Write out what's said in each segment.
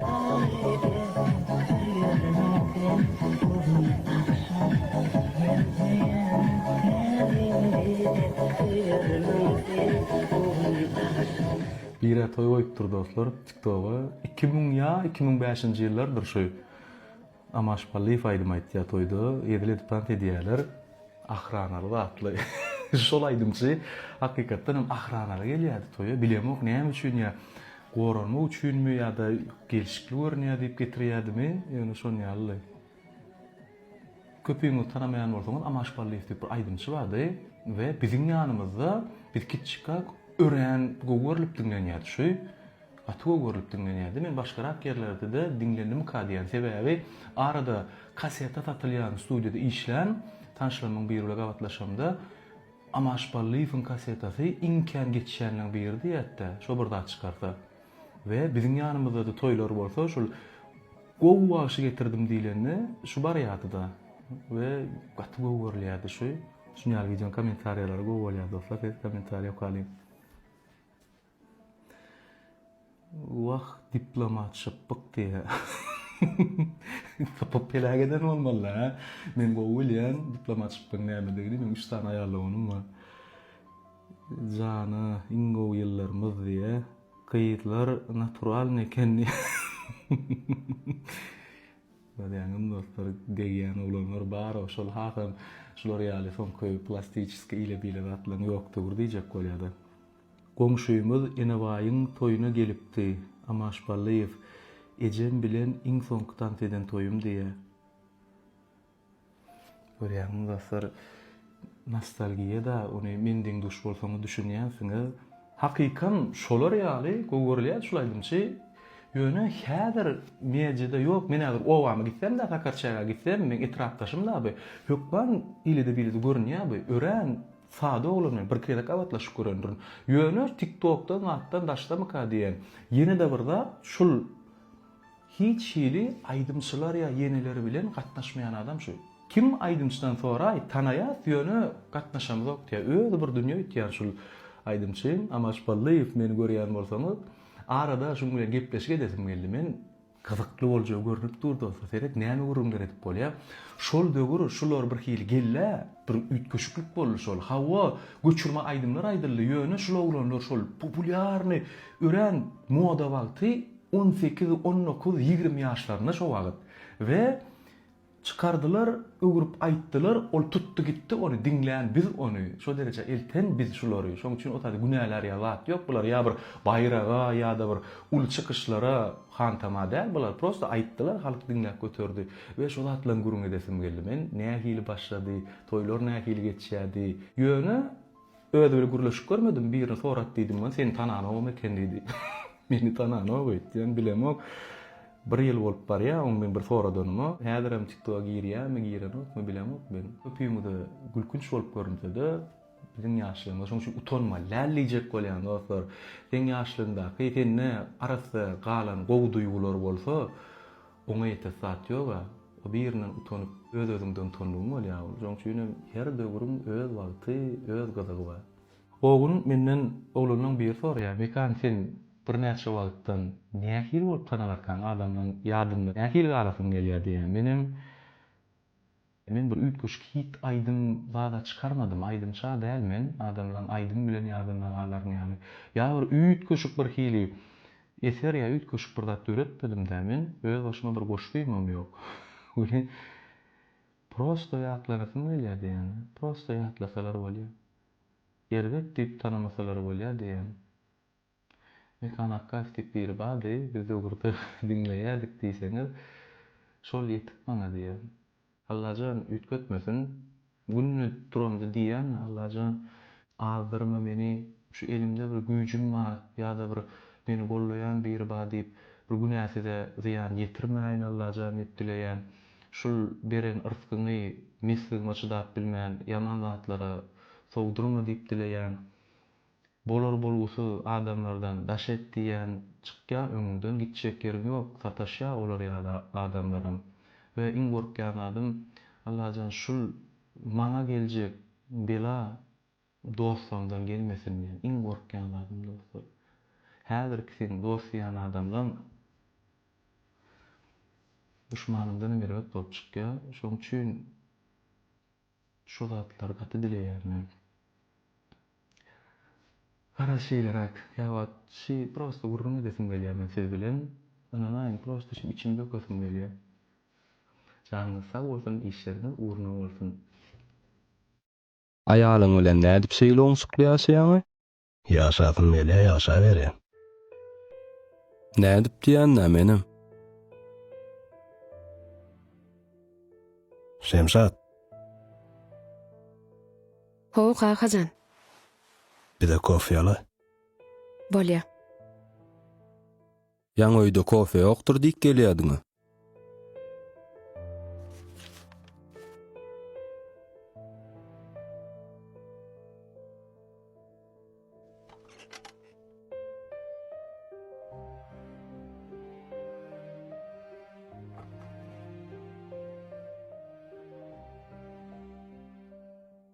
Bire toý goýupdyr dostlar tiktoga iki müň ýa iki müň bäşinji ýyllardyr şu Amaş Pallyýew aýdym aýtýar toýda, edil edip tans edýärler. Ahranaly zatly şol aýdymçy hakykatdan hem ahranaly gelýärdi toýa, bilemok näme üçin ýa goralmak üçinmi ýa-da gelşikli görünýär diýip getirýärdimi, ýöne şonýalydy. Köpüňiz tanamaýan bolsaňyz Amaş Pallyýew diýip bir aýdymçy bardy we biziň ýanymyzda biz kiçi çykak örän gowy görlüp diňlenýärdi şu. Gaty gowy görlüp diňlenýärdi. Men başgarak ýerlerdede diňlendimika diýýän. Sebäbi arada kaseta satylýan studiýada işlän tanşlarymyň biri bilen gabatlaşamda, Amaş Ballyýewiň kasetasy iň kän geçýänleriň biri diýýärdi-de, şo bir zat çykarsa. We biziň ýanymyzda-da toýlar bolsa, şol Gowy bagşy getirdim diýlende, şu barýardy-da. We gaty gowy görülýärdi şu. Şuny ýaly wideonyň kommentariýalary gowy bolýar dostlar, size kommentariýa okalyň. Wah diplomat şypbuk diýä. Tapyp peläk eden bolmaly-da hä? Men gowy bilýän diplomat şypbygyň nämedigini, meniň üç sany aýalogynum bar. Jana iň gowy ýyllarymyz diýä. Gyzlar naturalny eken diýä. Görýäňizmi dostlar, degýän oglanlar bar-ow, şol hasam şular ýaly soňky plastiçeskiý ile-bile zatlaryň ýokdugyr diýjek bolýa-da. Goňşymyz Enebaýyň toýuna gelipdi, Amaş Ballyýew, Ejem bilen iň soňky tans eden toýum diýýär. Görýäňmi, dostlar, nostalgiýa-da, ony men deň duş bolsaňyz düşünýänsiňiz. Hakykam şolar ýaly gowy görülýärdi şul aýdymçy. Ýöne häzir mediada ýok. Men häzir obama gitsem-de, Sakarçägä gitsem, meň etrapdaşym-da bi, hökman eýlede-beýlede görünýär bi. Örän Sada oglany bir gezek gabatlaşyp görendirin. Ýöne tik tokdan zatdan daşdamyka diýen. Ýenede bir zat şul hiç hili aýdymçylar ýa ýeneleri bilen gatnaşmaýan adam şu. Kim aýdymçydan soraý tanaýas ýöne gatnaşamyzok diýä özi bir dünýe öýtýän şul aýdymçy Amaş Ballyýew meni görýän bolsaňyz arada şuň bilen gepleşik edesim geldi men Gyzykly boljagy görnüp dur dost seret näme gürrüňler edip bolýa şol döwür şular bir hili gellä bir üýtgeşiklik boldy şol hawa göçürme aýdymlar aýdyldy ýöne şul oglanlar şol populýarny örän moda wagty on sekiz on dokuz ýigrimi ýaşlarynda şo wagyt we Çykardylar, öwrüp aýtdylar, ol tutdy gitdi ony, diňlän biz ony, şo derejä elten biz şulary, şoň üçin otaýda günälärýä zat ýok, bular ýa bir baýraga, ýa-da bir uly çykyşlara hantama däl bular, prosta aýtdylar, halk diňläp göterdi we şo zatlaň gürrüň edesim geldi men, nähili başlady, toýlar nähili geçýärdi, ýöne. Özi bile gürleşip görmedim, birini sorat diýdim, men seni tananogam eken diýdi. Meni tananok öýtýän, bilemok. Bir ýyl bolup barýa oň men bir soradanyma, häzirem tiktoga girýämi, girenokmy bilemok men. Köpüňize gülkünç bolup görünsede, biziň ýaşlarymyz şoň üçin utanma läl diýjek bolýan dostlar. Seň ýaşlygyňdaky sende arassa galan gowy duýgular bolsa, Oňa ýetäs zat ýog-a. O birinden utanyp, öz-özüňden utandygyň bolýar ol. Şoň üçin hem her döwrüň öz wagty, öz gyzygy bar. O gün menden oglanlaň biri soraýar, Mekan, sen birnäçe wagtdan nähili bolup tanalarkaň, adamlaň ýadynda nähili galasyň gelýär diýýär. Men hem Men bir üýtgeşik hit aýdym zada çykarmadym, aýdymça däl men, adamlaň aýdym bilen ýadan nagalaryn ýaly, ýa bir üýtgeşik bir hili eser ýa üýtgeşik bir zat döretmedim-dä men, öz başyma bir goşgymam ýok, welin prosto ýatlanasym gelýär diýýän-ä, prosto ýatlasalar bolýa, erbet diýip tanamasalar bolýa diýýän. Mekan Akgaýew diýip biri bardy, biz ýurda diňleýärdik diýseňiz, şol ýetik maňa diýýär. Allajan üýtgetmesin, günde turamda diýýän, Allajan azdyrma meni, şu elimde bir güýjüm bar ýa-da bir meni gollaýan biri bar diýip, bir günä size zyýan ýetirmäýin Allajan diýip dileýän. Şul beren yrskyňy mesligime çydap bilmän, ýaman zatlara sowdurma diýip dileýän. Bolar-bolgusyz adamlardan daş et diýýän çykýa öňüňden gitjek ýeriň ýok sataşýa olar ýaly adamlaram we iň gorkýan zadym Allajan şul maňa geljek bela dostlarymdan gelmesin diýen iň gorkýan zadym dostlar häzirki seň dost diýýän adamlaň duşmanyňdanam erbet bolup çykýa şoň üçin Şu zatlar gaty dileýär men. Garaz şeýleräk ýa wagt şi prosta gürrüň edesim gelýär men siz bilen ynanaýyň prosta şi içimi dökesim gelýär. Janyňyz sag bolsun işleriňiz ugruna bolsun. Aýalyň bilen nädip şeýle oňşukly ýaşaýaňy? Ýaşasyn Melä ýaşaberýä. Nädip diýýända menem. Şemşat. How kakajan. Bize kofe ala. Bolýa. Ýaňy öýde kofe ýokdur diýip gelýädiň-ä.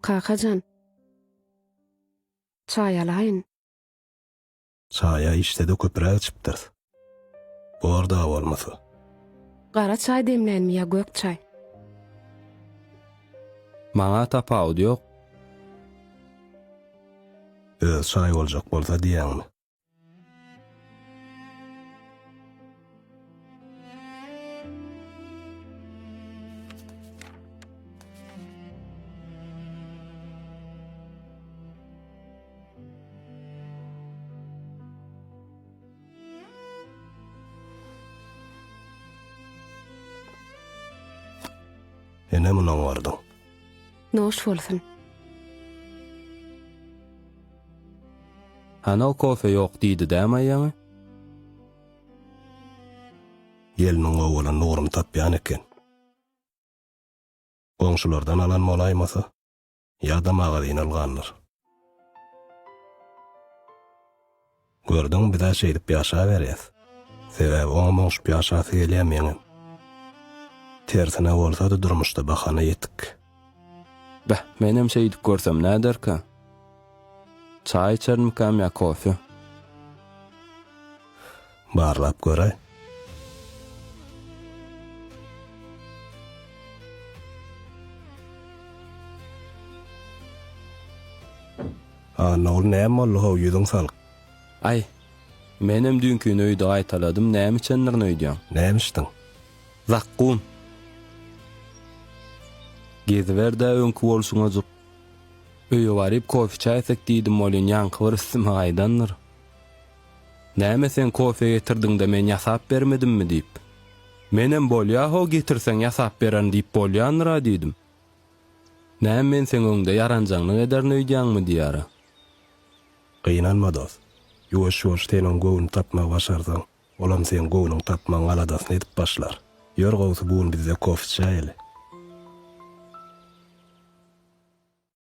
Kaka jan. Çaý alaýyn. Çaýa işde-de köpüräk içipdiris. Bor-da bolmasa. Gara çaý demlänmi ýa gök çaý? Maňa tapawudy ýok. Öz çaý boljak bolsa diýýäňmi? Ene munyň bardyň. Noş bolsun. Hana o kofe yok diydi dä Maýaňa? Gelniň owadan Nurum tapýan eken. Goňşulardan alan bolaýmasa, ýa-da magazin algandyr. Gördüň, biz-ä şeýdip ýaşaberýäs. Sebäbi oňam oňşup ýaşasy gelýär, meňem. Tersine bolsa-da durmuşda bahana ýetik. Beh, menem şeýdip görsem näderka? Çaý içermikam ýa kofe? Barlap göräý. Annaguly, näme boldy, how, ýüzüň salyk? Aý, menem düýnkini öýde gaýtaladym, näme içendirin öýdýäň? Näme içdiň? Zakkum. Geziber-dä öňki bolşuňajyk. Öýe baryp kofe-çaý içsek diýdim welin ýaňky bir üstüme gaýdandyr. Näme sen kofe getirdiň-de men ýasap bermedimmi diýip. Menem bolýa-how getirseň ýasap bererin diýip bolýandyr-a diýdim. Näme men seň öňüňde ýaranjaňlyk ederin öýdýäňmi diýýär-a. Gynanma dost. Ýuwaş-ýuwaş sen oň göwnüni tapmagy başarsaň, Olam seň göwnüň tapmaň aladasyny edip başlar. Ýör gowsy bu gün bizde kofe içäýeli.